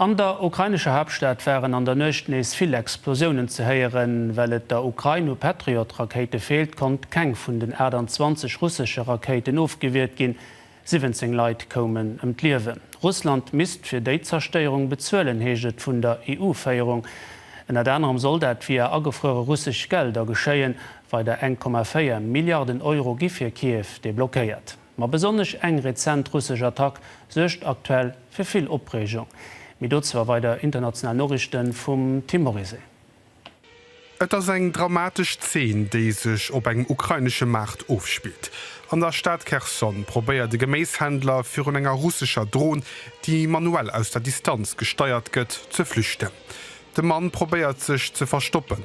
An der ukrainescher Haaptstad waren an der Nuecht nees vill Explosiounen ze héieren. Well et der Ukrain u Patriot-Rakéite feelt, konnt keng vun den 28 russesche Rakéiten ofgewiert ginn. 17 Leit koumen ëm d'Liewen. Russland misst fir déi Zerstéierung bezuelen, heescht et vun der EU-Féierung. Ënnert anerem soll dat via agefruere russesch Gelder geschéien. Weider 1,4 Milliarden Euro gi fir Kiew deblockéiert. Ma besonnesch eng rezent russesch Attack suergt aktuell fir vill Opreegung. Mee dozou a weider international Noriichte vum Tim Morizet. Et ass eng dramatesch Zeen, déi sech op engem ukrainesche Maart ofspillt. An der Stad Kherson probéiert e Geméishändler virun enger russescher Dron, déi manuell aus der Distanz gesteiert gëtt, ze flüchten. De Mann probéiert sech ze verstoppen,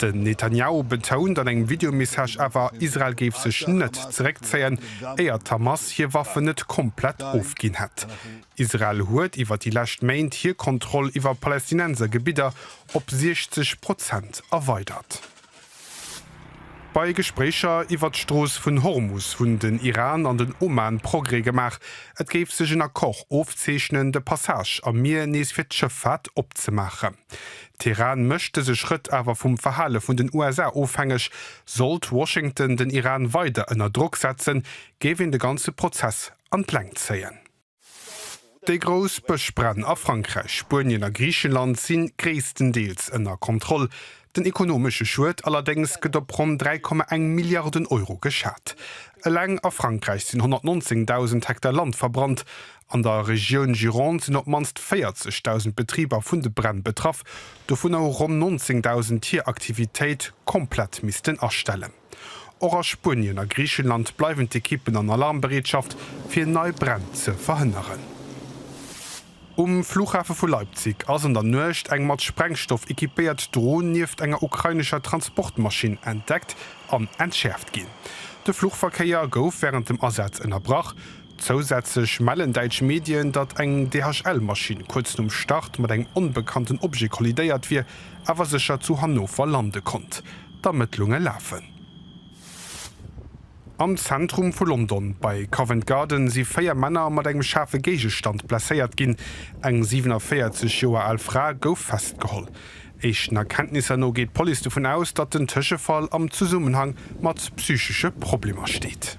Den Netanjahu betount an engem Videomessage awer, Israel géif sech net zeréckzéien, éier d'Hamas hir Waffen net komplett ofginn hätt. Israel huet iwwer déi lescht Méint hir Kontroll iwwer Palästinenser Gebidder op 60 Prozent erweidert. Bei Gespréicher iwwer d'Strooss vun Hormus hunn den Iran an den Oman Progrès gemaach. Et géif sech en Accord ofzeechnen, de Passage am Mier nees fir d'Schëffaart opzemaachen. Teheran mécht dëse Schrëtt awer vum Verhale vun den USA ofhängeg. Sollt Washington den Iran weider ënner Drock setzen, géif een de ganze Prozess an d'Längt zéien. Déi grouss Bëschbränn a Frankräich, Spuenien a Griichenland si gréisstendeels ënner Kontroll. Den ekonomesche Schued allerdéngs gëtt op ronn 3,1 Milliarden Euro geschat. Eleng a Frankräich sinn 119.000 Hektar Land verbrannt An der Regioun Gironde sinn op d'mannst 40.000 Betriber vun de Bränn betraff, dovunner hu ronn 19.000 hir Aktivitéit komplett missten astellen. Och a Spuenien a Griichenland bleiwen d'Ekippen an Alarmbereetschaft, fir nei Bränn ze verhënneren. Um Flughafe vu Leipzig ass an der Nuecht eng mat Sprengstoff ekipéiert Dron nieft enger ukrainescher Transportmaschinn entdeckt an entschäerft ginn. De Fluchverkéier gouf wärend dem Asaz ënnerbrach. Zousätzlech mellen däitsch Medien, datt eng DHL-Maschinn kuerz nom Start mat engem onbekannten Objet kollidéiert wier, awer sécher zu Hannover lande konnt. D'Ermëttlunge lafen. Am Zentrum vu London, bei Covent Garden, si véier Männer mat engem schaarfe Géigestand blesséiert ginn. Eng 47 Joer al Fra gouf festgeholl. Éischten Erkenntnisser no geet d'Police dovun aus, datt den Tëschefall am Zesummenhang mat psychesche Problemer steet.